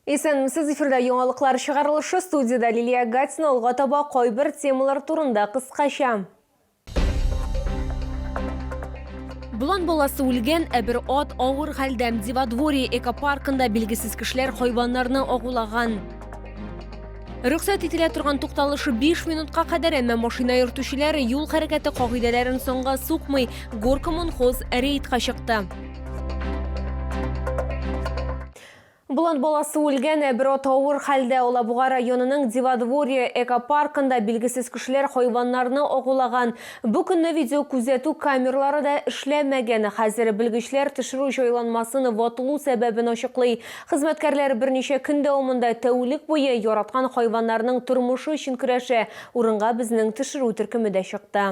Исәнмесез, эфирда яңалыклар чыгарылышы, студиядә Лилия Гатина, алга таба кайбер темалар турында кыскача. Булан баласы үлгән, ә бер ат авыр хәлдә. Диводворье экопаркында билгесез кешеләр хайваннарны агулаган. Рөхсәт ителә торган тукталышы 5 минутка кадәр, әмма машина йөртүчеләр юл хәрәкәте кагыйдәләрен соңга сукмый, Горкомонхоз рейдка чыкты. Болан баласы үлгән, ә бер ат авыр хәлдә. Алабуга районының Диводворье экопаркында билгесез кешеләр хайваннарны агулаган. Бу көнне видеокүзәтү камерлары да эшләмәгән. Хәзер белгечләр төшерү җайланмасын ватылу сәбәбен ачыклый. Хезмәткәрләр берничә көн дәвамында тәүлек буе яраткан хайваннарның тормышы өчен көрәшә. Урынга безнең төшерү төркеме дә чыкты.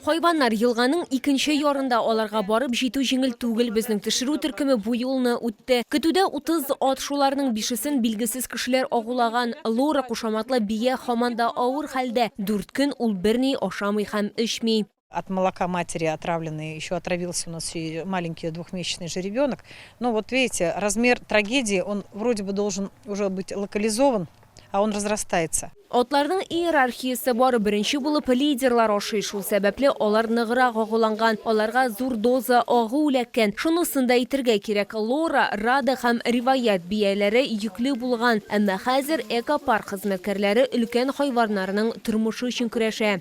Хайваннар елганың икенче ярында, аларга барып җитү җиңел түгел. Безнең төшерү төркеме бу юлны үтте. Көтүдә 30 ат, шуларның бишесен билгесез кешеләр агулаган. Лора кушаматлы бия һаман да авыр хәлдә. Дүрт көн ул берни ашамый һәм эчми. От молока матери отравленный еще отравился у нас и маленький двухмесячный же ребенок. Ну вот видите, размер трагедии, он вроде бы должен уже быть локализован. а он разрастается. Атларның иерархиясе бар, беренче булып лидерлар ашый, шул сәбәпле алар ныграк агуланган, аларга зур доза агу эләккән. Шунысын да әйтергә кирәк, Лора, Рада һәм Риваять бияләре йөкле булган, әмма хәзер экопарк хезмәткәрләре өлкән хайваннарның тормышы өчен көрәшә.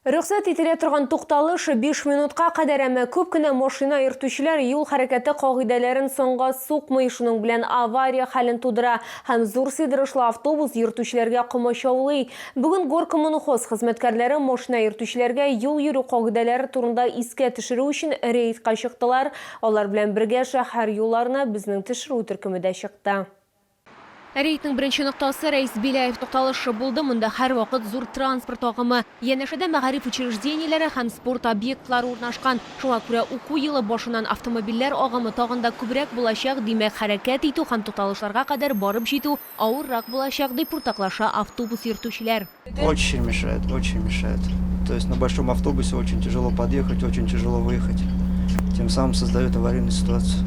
Рөхсәт ителә торган тукталыш биш минутка кадәр, әмма күп кенә машина йөртүчеләр юл хәрәкәте кагыйдәләрен санга сукмый, шуның белән авария хәлен тудыра һәм зур сыйдырышлы автобус йөртүчеләргә комачаулый. Бүген Горкоммунхоз хезмәткәрләре машина йөртүчеләргә юл йөрү кагыйдәләре турында искә төшерү өчен рейдка чыктылар, алар белән бергә шәһәр юлларына безнең төшерү төркеме дә чыкты. Рейдның беренче ноктасы, Рәис Беляев тукталышы булды. Монда һәрвакыт зур транспорт агымы. Янәшәдә мәгариф учреждениеләре һәм спорт объектлары урнашкан. Шуңа күрә уку елы башыннан автомобильләр агымы тагын да күбрәк булачак, димәк, хәрәкәт итү һәм тукталышларга кадәр барып җитү авыррак булачак, дип уртаклаша автобус йөртүчеләр. Очень мешает, очень мешает. То есть на большом автобусе очень тяжело подъехать, очень тяжело выехать. Тем самым создает аварийную ситуацию.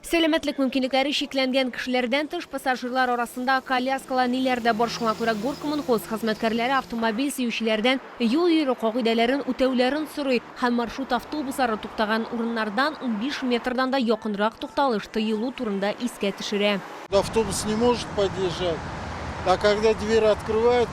Сәламәтлек мөмкинлекләре чикләнгән кешеләрдән тыш, пассажирлар арасында коляскалы әниләр дә бар, шуңа күрә Горкоммунхоз хезмәткәрләре автомобиль сөючеләрдән юл йөрү кагыйдәләрен үтәүләрен сорый һәм маршрут автобуслары туктаган урыннардан унбиш метрдан да якынрак тукталыш тыелу турында искә төшерә. Автобус не может подъезжать, а когда дверь открывает,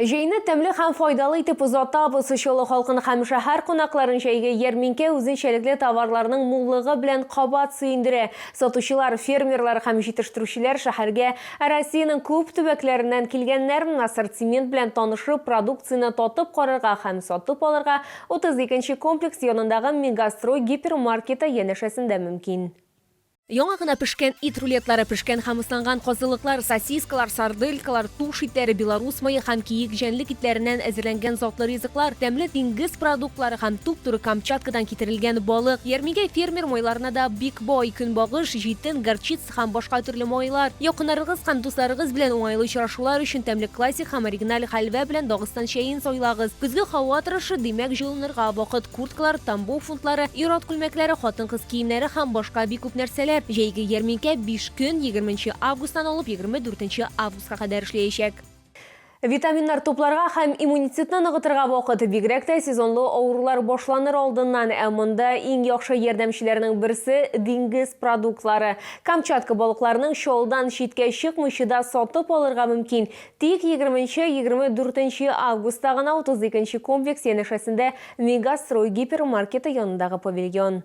Җәйне тәмле һәм файдалы итеп озатабыз. Чаллы халкын һәм шәһәр кунакларын җәйге ярминкә үзенчәлекле товарларның муллыгы белән кабат сөендерә. Сатучылар, фермерлар һәм җитештерүчеләр шәһәргә Россиянең күп төбәкләреннән килгәннәр, ассортимент белән танышып, продукцияне татып карарга һәм сатып алырга 32 нче комплекс янындагы Мегастрой гипермаркеты янәшәсендә мөмкин. Яңа гына пешкән ит рулетлары, пешкән һәм ысланган казылыклар, сосискалар, сарделькалар, туш итләре, белорус мае һәм киек җәнлек итләреннән әзерләнгән затлы ризыклар, тәмле диңгез продуктлары һәм туп-туры Камчаткадан китерелгән балык. Ярмигә фермер майларына да бик бай, көнбагыш, җитен, горчица һәм башка төрле майлар. Якыннарыгыз һәм дусларыгыз белән уңайлы очрашулар өчен тәмле классик һәм оригиналь хәлвә белән Дагыстан чәен сайлагыз. Көзге һава торышы, димәк, җылынырга вакыт. Курткалар, тамбов фунтлары, ир-ат күлмәкләре, хатын-кыз киемнәре һәм башка бик күп нәрсәләр. Җәйге ярминкә биш көн, егерме нче августтан алып егерме дүртенче августка кадәр эшләячәк. Витаминнар тупларга һәм иммунитетны ныгытырга вакыт, бигрәк тә сезонлы авырулар башланыр алдыннан, ә монда иң яхшы ярдәмчеләрнең берсе, диңгез продуктлары. Камчатка балыкларының чалдан читкә чыкмыйчы да сатып алырга мөмкин, Тик егерменче-егерме дүртенче августта гына утыз икенче комплекс янәшәсендә Мегастрой гипермаркеты янындагы павильон.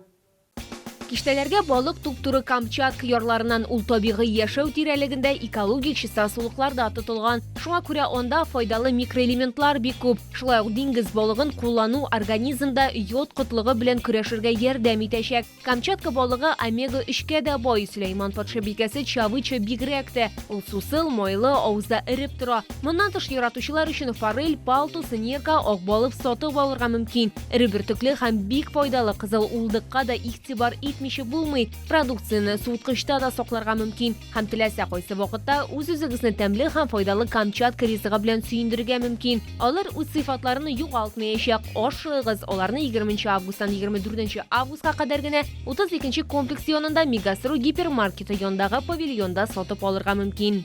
Киштәләргә балык туп-туры Камчатка ярларыннан ул табигый яшәү тирәлегендә экологик чиста сулыкларда тотылган. Шуңа күрә анда файдалы микроэлементлар бик күп. Шулай ук диңгез балыгын куллану организмда йод кытлыгы белән көрәшергә ярдәм итәчәк. Камчатка балыгы омега 3 кә дә бай. Сөләйман патша бикәсе чавыча бигрәк тә. Ул сусыл, майлы, авызда эреп тора. Моннан тыш яратучылар өчен форель, палтус, нерка, акбалык сатып алырга мөмкин. Эре бөртекле һәм бик файдалы кызыл улдыкка да игътибар итмичә булмый. Продукцияне суыткычта да сакларга мөмкин. Һәм теләсә кайсы вакытта үз-үзегезне тәмле һәм файдалы Камчатка ризыгы белән сөендерергә мөмкин. Алар үз сыйфатларын югалтмаячак. Ашыгыз, аларны 20 августтан 24 августка кадәр генә 32 комплекс янында Мегастру гипермаркеты янындагы павильонда сатып алырга мөмкин.